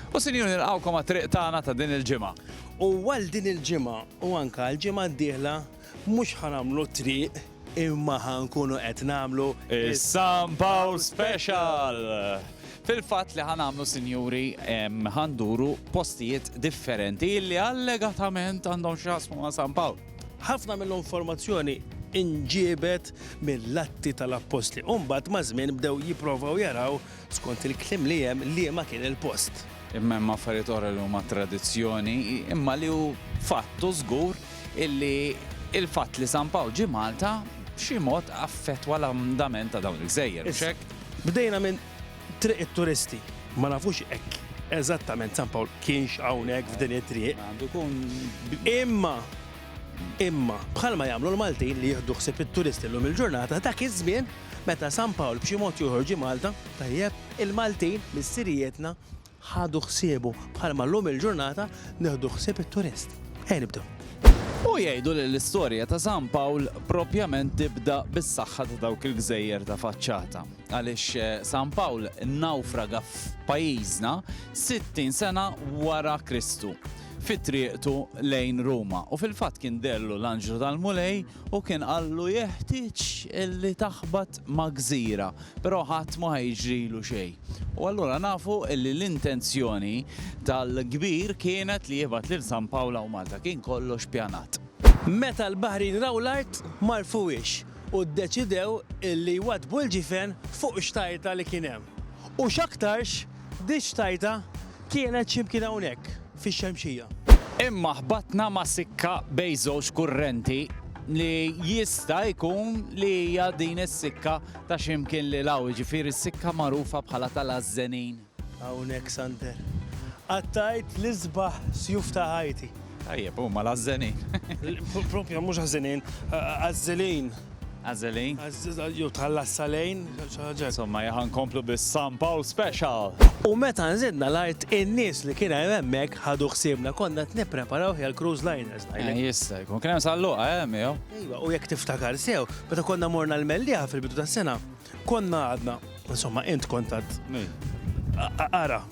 U sinjuri nilqgħukom għat-triq tagħna ta' din il-ġimgħa. U għal din il-ġimgħa u anke għall-ġimgħa d-dieħla mhux ħa nagħmlu t-triq imma ħa nkunu qed nagħmlu is-San Pawl Special! Fil-fatt li ħa nagħmlu sinjuri ħa nduru postijiet differenti li allegatament għandhom x'jaqsmu ma' San Pawl. Ħafna mill-informazzjoni inġiebet mill-Atti tal-Appostli u mbagħad maż-żmien bdew jipprovaw jaraw Skont il-kliem li hemm liema kien il-post. Imma hemm affarijiet oħra li huma tradizzjoni imma li hu fatt u żgur illi il-fatt li San Pawl ġie Malta b'xi mod affettwa l-andament ta' dawn il-gżejjer, mhux hekk? Bdejna minn Triq it-Turisti. Ma nafux hekk eżattament San Pawl kienx hawnhekk f'din it-triq. Imma Imma, bħalma jagħmlu l-Maltin li jieħdu ħsieb it-turisti llum il-ġurnata, dak iż-żmien, meta San Pawl b'xi mod jew ieħor ġie Malta, tajjeb, il-Maltin, missirijietna, ħadu ħsiebu, bħalma llum il-ġurnata nieħdu ħsieb it-turist. Ejja nibdew. U jgħidu li l-istorja ta' San Pawl propjament tibda bis-saħħa ta' dawk il-gżejjer ta' faċċata. Għaliex San Pawl nnawfraga f'pajjiżna 60 sena wara Kristu. fi triqtu lejn Ruma, u fil-fatt kien deherlu l-anġlu tal-Mulej u kien qallu jeħtieġ li taħbat ma' gżira, però ħadd mhu ħa jiġrilu xejn. U allura nafu li l-intenzjoni tal-kbir kienet li jibgħat lil San Pawl hawn Malta, kien kollox pjanat. Meta l-baħrin raw l-art ma għarfuhiex u ddeċidew li jwaddbu l-ġifen fuq xtajta li kien hemm. U x'aktarx Diġ tajtha, kienet xi mkien hawnhekk, fix-Xemxija. Imma ħbatna ma' sikka bejn żewġ kurrenti li jista' jkun li hija din is-sikka ta' xi mkien lil hawn, jiġifieri s-sikka magħrufa bħala tal-Għażżenin. Hawnhekk, Sander, qattajt l-isbaħ sjuf ta' ħajti. Tajjeb, huma l-Għażżenin. Proprja, mhux Għażżenin, Għażżilin. Għażeli. Jew tħallas salejn, xi ħaġa. Insomma, jaħan komplu bis-San Pawl Special. U meta nżidna l-art, in-nies li kien hemm hemmhekk ħadu ħsiebna, konna qed nippreparawh għal cruise liners. Jista' jkun. Kien hemm sal-luqa, eh, miegħu? Iva, u jekk tiftakar sew, meta konna morna l-Mellieħa fil-bidu tas-sena, konna għadna, insomma, int kont għad. Ara.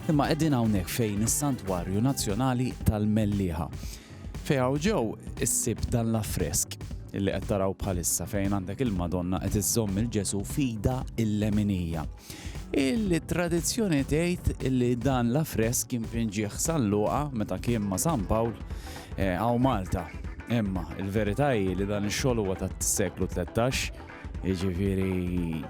Imma qegħdin hawnhekk fejn is-Santwarju Nazzjonali tal-Mellieħa. Fejn hawn ġew issib dan l-affresk illi qed taraw bħalissa fejn għandek il-Madonna qed iżżomm il-Ġesu fida il-leminija. Il-tradizzjoni tgħid illi dan l-affresk kien pinġieħ San Luqa meta kien ma' San Pawl għaw eh, Malta. Imma il-verità hi li dan ix-xogħol huwa tat-seklu 13 Jiġifieri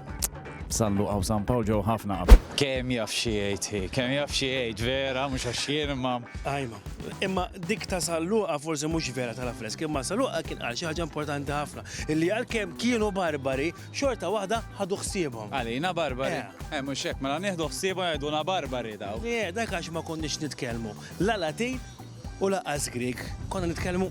sallu għaw San Pawl ġew ħafna qabel. Kemm jaf xi jgħid, kemm jaf xi jgħid vera mhux għax jien imma. Ajma, imma dik ta' salluqa forsi mhux vera tal-affresk, imma salluqa kien qal xi ħaġa importanti ħafna illi għalkemm kienu barbari xorta waħda ħadu ħsiebhom. Għalina barbari. Eh. eh mhux hekk mela nieħdu ħsiebhom jgħiduna barbari daw. Le, dak għax ma konniex nitkellmu. La Latin U lanqas Grieg, konna nitkellmu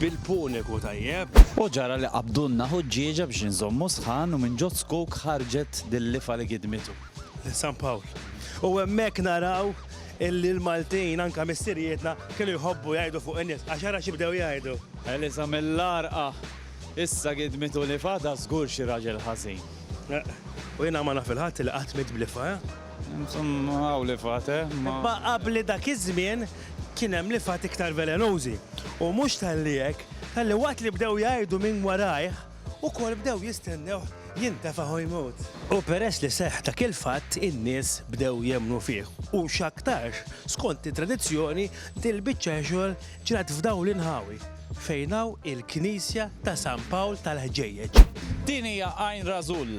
bil-Puniku, tajjeb? U ġara li qabdulna ħuġġieġa biex inżommu sħan u minn ġo zkuk ħarġet dil-lifa li gidmitu. Lil San Pawl. U hemmhekk naraw illi l-Maltin, anke missirijietna, kienu jħobbu jgħidu fuq in-nies, għax ara xi bdew jgħidu. Eliża mill-Għarqa, Issa gidmitu lifa, da żgur xi raġel ħażin. U jiena ma naf il-ħadd li qatt miet b'lifa, eh? Insomma hawn lifgħat, eh? Imma qabli dak iż-żmien kien hemm lifgħat iktar velenużi. U mhux talli hekk, talli waqt li bdew jgħirdu minn warajh, ukoll bdew jistennewh jintefa' u jmut. U peress li seħħ dak il-fatt, in-nies bdew jemmnu fih. U x'aktarx, skont it-tradizzjoni, dil-biċċa xogħol ġrat f'dawn l-inħawi, fejn hawn il-knisja ta' San Pawl tal-Ħġejjeġ. Din hija Għajn Rażul.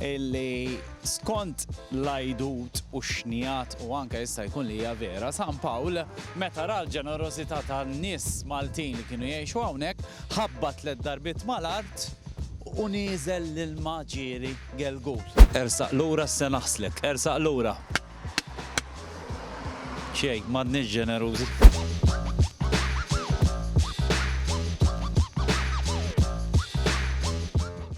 illi skont l-għidut u x-xnigħat u anke jista' jkun li hija vera, San Pawl meta ra l-ġenerożità tan-nies Maltin li kienu jgħixu hawnhekk, ħabbat tliet darbiet mal-art u nieżel l-ilma ġieri gelgul. Ersaq lura issa naħslek, ersaq lura. Xejn, m'għadniex ġenerużi.